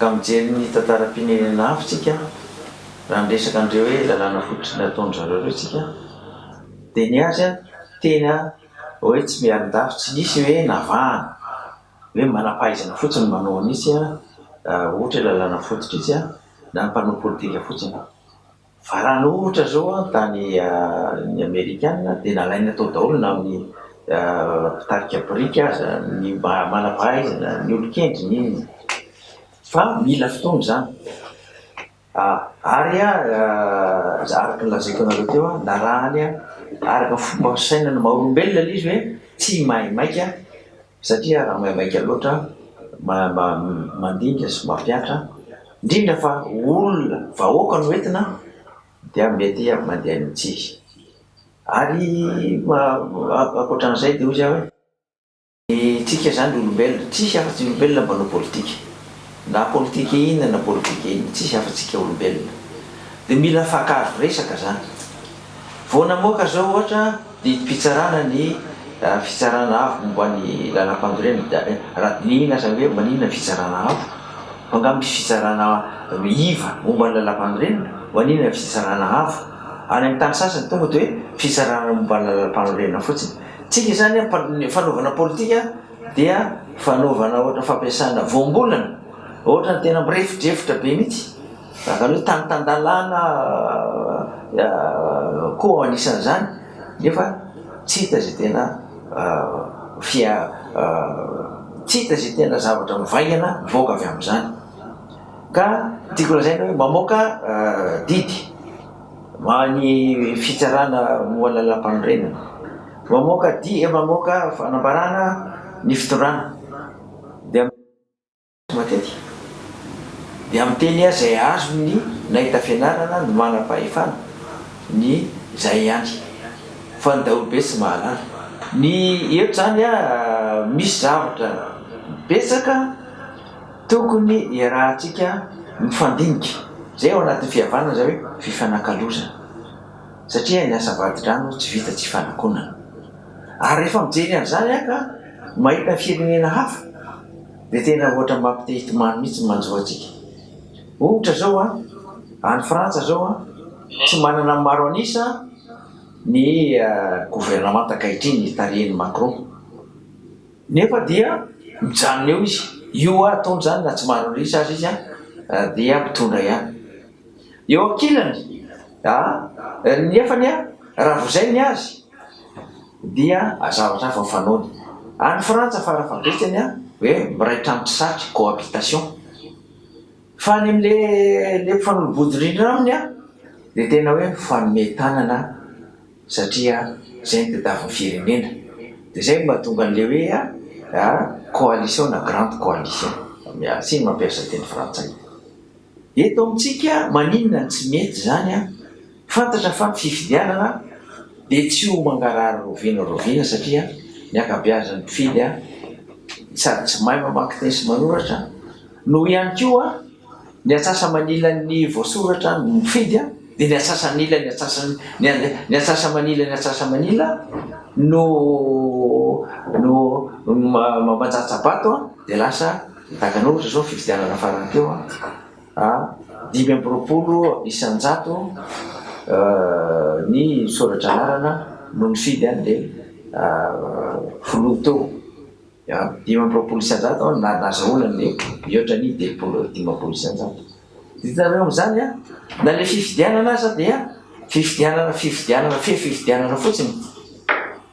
Ka mijery ny tantaram-pirenena hafa tsika raha miresaka an'ireo hoe lalàna fototra nataon-dry zareo ireo tsika dia ny azy an tena hoe tsy miarin-dafy tsy nisy hoe navahana hoe manam-pahaizana fotsiny ny manao an'itsy an ohatra hoe lalàna fototra itsy an na ny mpanao politika fotsiny. Varana ohatra izao an, tany ny amerikana dia nalaina tao daholo na amin'ny mpitarika biriky aza, ny mba manampahaizana, ny olon-kendry, ny inona. Fa mila fotoana izany. Ary araka ny lazaiko anareo teo an, narahany araka ny fomba fisainana maha olombelona ilay izy hoe tsy maimaika satria raha maimaika loatra mandimby sy mampihatra indrindra fa olona vahoaka no entina dia mety mandeha any amintsika ary ankoatran'izay dia hoy aho hoe isika izany olombelona tsisy afa-tsy ny olombelona no manao politika na politika inona na politika inona tsisy afa-tsy isika olombelona dia mila afa-kazo resaka izany vao namoaka izao ohatra Didim-pitsarana ny Fitsarana Avo momba ny Lalàmpandorena raha dinihina aza hoe maninona ny Fitsarana Avo? fa angaha misy Fitsarana iva momba ny Lalàmpandorena? maninona ny Fitsarana Avo? Any amin'ny tany sasany tonga dia hoe Fitsarana momba ny Lalàmpanorenana fotsiny. Tsika izany an, ny fanaovana politika dia fanaovana ohatra fampiasana voambolana, ohatra ny tena mirefodrefotra be mihitsy. Izany hoe tany tan-dalàna koa anisan'izany nefa tsy hita izay tena fia- tsy hita izay tena zavatra mivaingana mivoaka avy amin'izany. Ka tiako lazaina hoe mamoaka didy ho an'ny fitsarana momba ny lalàmpanorenana, mamoaka di- mamoaka fanambarana ny fitondrana dia. Matetika dia miteny azy izay azony nahita fianarana ny manam-pahefana, ny izay ihany, fa ny daholobe tsy mahalala. Ny eto izany misy zavatra betsaka tokony iarahantsika mifandinika, izay ao anatin'ny fihavanana izay hoe fifanakalozana, satria ny asa vadi-drano tsy vita tsy ifanakonana. Ary rehefa mijery an'izany aho ka mahita ny firenena hafa, Dia tena ohatra mampy te hitomany mihitsy ny manjo antsika. Ohatra izao an, any Frantsa izao an, tsy manana ny maro an'isa ny governemanta ankahitriny tarihin'i Macron. Nefa dia mijanona eo izy. Io ataony izany na tsy maro an'isa aza izy an, dia mitondra ihany. Eo ankilany, nefany an, raha vozay ny azy, dia zavatra hafa ny fanaony. Any Frantsa fara fahabetsany a, hoe miray trano tsy satry, cohabitation. Fa any amin'le le mpifanolo-bodirindrina aminy a, dia tena hoe mifanome tanana satria zay no tadiavin'ny firenena. Dia zay no mahatonga an'le hoe a a coalition na grande coalition. Miasy ny mampiasa teny frantsay. Eto amintsika maninona no tsy mety izany an? Fantatra fa ny fifidianana dia tsy ho mangarahara raoviana raoviana satria ny ankabeazan'ny mpifidy an, sady tsy mahay mamaky teny sy manoratra noho ihany koa ny atsasa-manilan'ny voasoratra ny mpifidy an, dia ny atsasa-nila ny atsasa-ny ny atsasa-manila ny atsasa-manila no no no manjatsa-bato an, dia lasa. Nitàkana ohatra izao ny fifidianana farany teo an, dimy amby roapolo isan-jato ny soratra anarana no nifidy an'ilay filoha teo, dimy amby roapolo isan-jato no nahazahoana an'ilay mihoatra ny telopolo, dimampolo isan-jato. Hitanareo amin'izany an, na ilay fifidianana aza dia fifidianana, fifidianana, fe fifidianana fotsiny.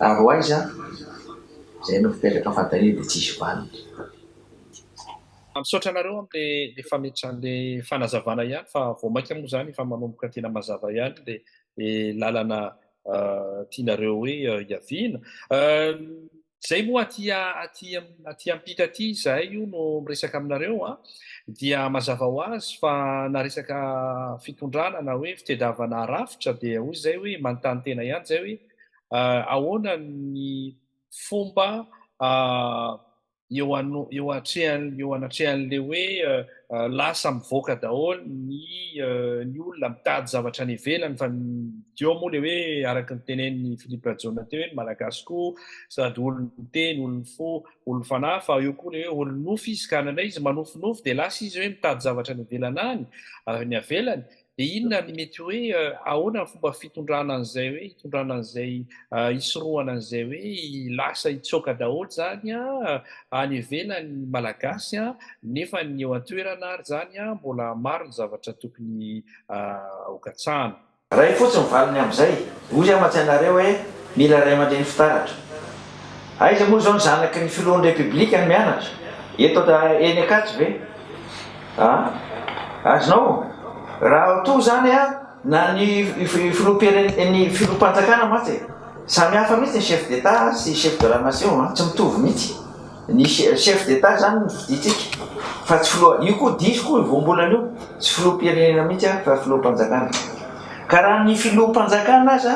Ary ho aiza izay no fipetraka fantaniana dia tsisy valiny. Misaotra anareo amle fametrany le fanazavana ihany fa vao maika moa zany efa manomboka tena mazava ihany le lalana tianareo hoe hiaviana. Zay moa aty aty aty ampita aty izahay io no miresaka aminareo a, dia mazava ho azy fa na resaka fitondrana na hoe fitedavana rafitra dia hoy zay hoe manontany tena ihany zay hoe ahoana ny fomba eo anatrehan'ilay hoe lasa mivoaka daholo ny olona mitady zavatra any ivelany fa ny eo moa ilay hoe araka ny tenenin'i Philippe Rajaonina teo hoe ny Malagasy koa sady olon-teny, olon-fo, olon-fanahy fa eo koa ilay hoe olon-nofy izy ka indraindray izy manofinofy dia lasa izy hoe mitady zavatra any ivelany any, ny avelany Dia inona ny mety hoe ahoana ny fomba fitondrana an'izay hoe hitondrana an'izay hisorohana an'izay hoe lasa hitsoaka daholo izany any ivelany ny Malagasy nefa ny eo an-toerana ary izany mbola maro ny zavatra tokony hokatsahana. Raha iny fotsiny ny valiny amin'izay, hoy aho mantsy anareo hoe mila ray aman-dreny fitaratra. Aiza moa izao ny zanaky ny filohan'ny Repiblika no mianatra? Eto eny Ankatso ve? Aa! Azonao? Raha toa izany an, na ny filoham-pirenen ny filoham-panjakana mantsy e! Samy hafa mihitsy ny chef d'Etat sy chef de la nation an! Tsy mitovy mihitsy. Ny chef d'Etat izany no fidintsika fa tsy filoha, io koa diso koa io voambolana io, tsy filoham-pirenena mihitsy an fa filoham-panjakana. Ka raha ny filoham-panjakana aza.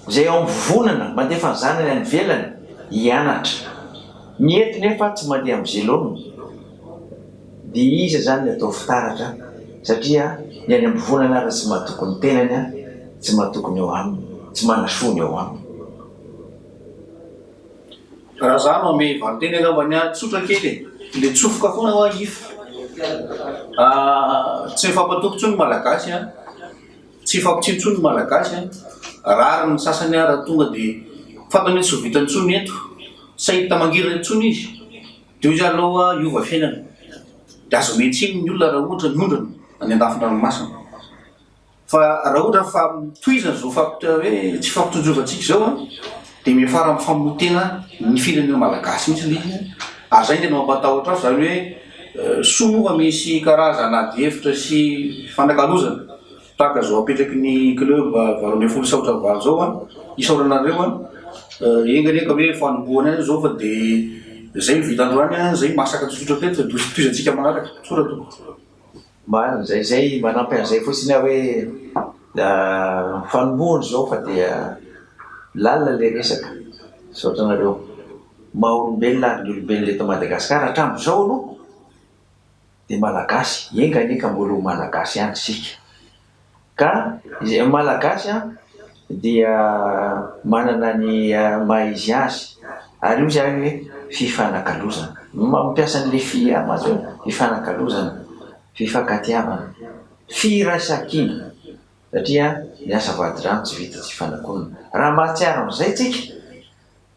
izay ao amin'ny vovonana mandefa ny zanany any ivelany hianatra. Ny eto nefa tsy mandeha amin'ny zelony dia iza izany ny atao fitaratra satria ny any am-bovonana aza tsy mahatoky ny tenany, tsy mahatoky ny ao aminy, tsy manasoa ny ao aminy. Raha za no ame valinteny angamba ny ahy tsotra kely e! le tsofoka foana hoa if tsy mifampatoky tsony ny malagasy an! Tsy hifampitsia intsony ny Malagasy an! Rariny ny sasany ary tonga dia fantany hoe tsy ho vita intsony eto, tsy hahita mangirana intsony izy, dia hoy izy aloha hiova fiainana, dia azo omena tsiny ny olona raha ohatra niondrana any an-dafin-dranomasina. Fa raha ohatra fa tohizana izao fampitr hoe tsy hifampitsinjovantsika izao an! dia miafara amin'ny famonoan-tena ny firenena Malagasy mihitsy ilay izy an! ary izay no tena mampatahotra ahy, izany hoe, Soa moa fa misy karazana adihevitra sy fifanakalozana tahaka izao apetraky ny club valo ambin'ny folo saotra valo izao an! isaorana anareo an! enga anie ka hoe fanombohana ihany izao fa dia izay no vita androany an! izay masaka tsotsotra teto fa dia ho tohizantsika manaraka! soa ra tompoko. Marina izay, izay manampy an'izay fotsiny aho hoe fanombohana izao fa dia lalina ilay resaka, misaotra anareo maha olombelona ary ny olombelona eto Madagascar hatramin'izao aloha dia malagasy, enga anie ka mbola ho malagasy ihany isika. Ka izay Malagasy dia manana ny maha izy azy ary io izany hoe fifanakalozana. Mampiasa an'ilay fi an mantsy hoe fifanakalozana, fifankatiavana, firaisan-kina satria ny asa vadi-drano tsy vita tsy fanakonana. Raha mahatsiaro an'izay tsika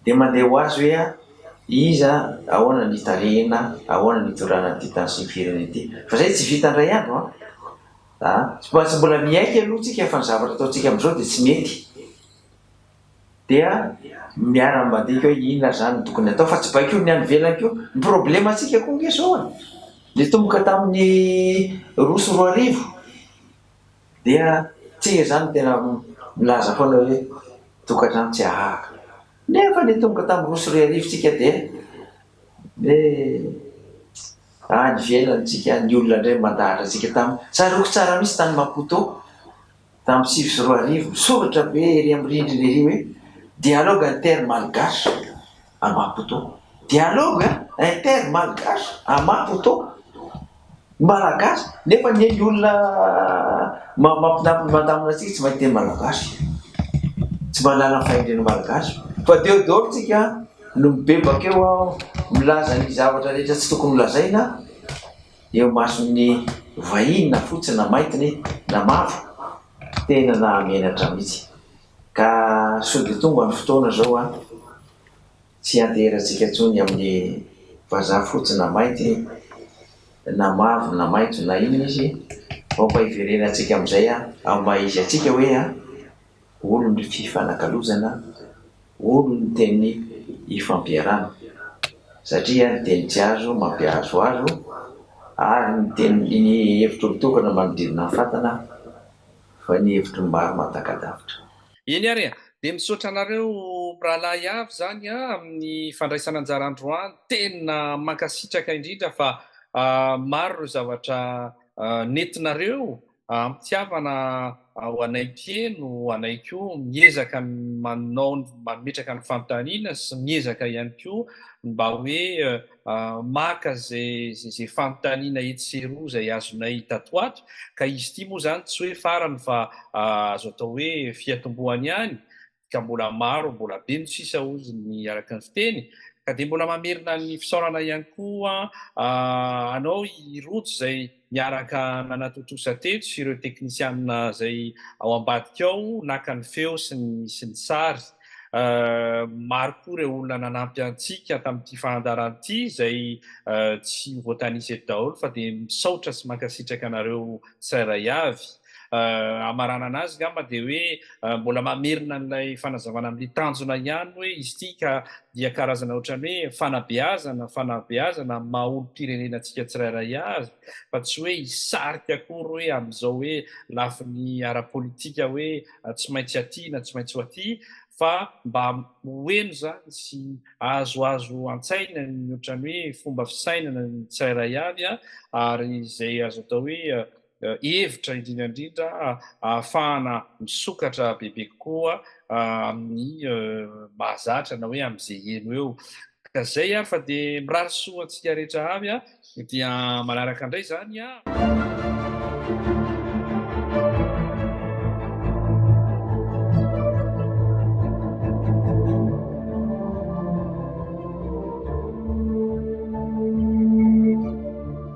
dia mandeha ho azy hoe iza, ahoana ny hitarihina, ahoana ny hitondrana ity tany sy ny firenena ity. Fa izay tsy vita indray andro an! A, tsy maintsy mbola miaiky aloha tsika fa ny zavatra ataontsika amin'izao dia tsy mety. Dia miara-mandeha koa hoe inona ary izany no tokony atao fa tsy baikoin'ny any ivelany koa. Ny problemantsika koa ange izao e, nitomboka tamin'ny roa sy roa arivo dia tsy izany no tena milaza foana hoe tokantrano tsy ahahaka. Nefa nitomboka tamin'ny roa sy roa arivo tsika dia Dia any ivelany tsika ny olona indray mandahatra antsika taminy. Tsaroako tsara mihitsy tany Maputo tamin'ny sivy sy roa arivo, misoratra be ery amin'ny rindrina ery hoe Dialogue inter malgache à Maputo. Dialogue inter malgache à Maputo! Malagasy nefa anie ny olona mampinaminy mandamina antsika tsy mahay teny malagasy, tsy mahalala ny fahendren'ny malagasy fa deo daholo tsika no mibebaka eo aho milaza ny zavatra rehetra tsy tokony holazaina eo mason'ny vahiny na fotsy na maitiny na mavo, tena nahamenatra mitsy ka sody tonga ny fotoana zao an! Tsy ianteherantsika intsony amin'ny vazaha fotsy na mainty na mavo na maitso na inona izy vao mba hiverenantsika amin'izay amin'ny maha izy antsika hoe olon'ny fifanakalozana, olon'ny teny ifampiarana. Satria ny teny tsy azo mampiahazohazo ary ny teny ny hevitr'olon-tokana manodidina ny fatana fa ny hevitry ny maro mahatakadavitra. Eny ary a! Dia misaotra anareo mirahalahy avy izany a, amin'ny fandraisana anjara androany, tena mankasitraka indrindra fa maro ireo zavatra nentinareo hampitiavana ho anay mpieno, ho anay koa miezaka manao, mametraka ny fanontaniana sy miezaka ihany koa mba hoe maka izay fanontaniana etsy sy eroa izay azonay tato ato, ka izy ity moa izany tsy hoe farany fa azo atao hoe fiatombohany ihany, ka mbola maro, mbola be no sisa hozy ny araka ny fiteny, ka dia mbola mamerina ny fisaorana ihany koa anao i Rojo izay. Niaraka nanatontosa teto ireo teknisianina izay ao ambadika ao naka ny feo sy ny sy ny sary. Maro koa ireo olona nanampy antsika tamin'ity fandaharana ity izay tsy ho voatanisa eto daholo fa dia misaotra sy mankasitraka anareo tsirairay avy. hamaranana azy angamba dia hoe mbola mamerina an'ilay fanazavana amin'ny tanjona ihany hoe izy ity ka dia karazana ohatran'ny hoe fanabeazana, fanabeazana amin'ny maha olom-pirenena antsika tsirairay avy fa tsy hoe hisarika akory hoe amin'izao hoe lafiny ara-politika hoe tsy maintsy aty na tsy maintsy ho aty fa mba ho heno izany sy ahazoazo an-tsaina ny ohatran'ny hoe fomba fisainana ny tsirairay avy ary izay azo atao hoe hevitra indrindra indrindra ahafahana misokatra bebe kokoa amin'ny mahazatra na hoe amin'izay heno eo. Ka izay ary fa dia mirary soa antsika rehetra avy dia manaraka indray izany.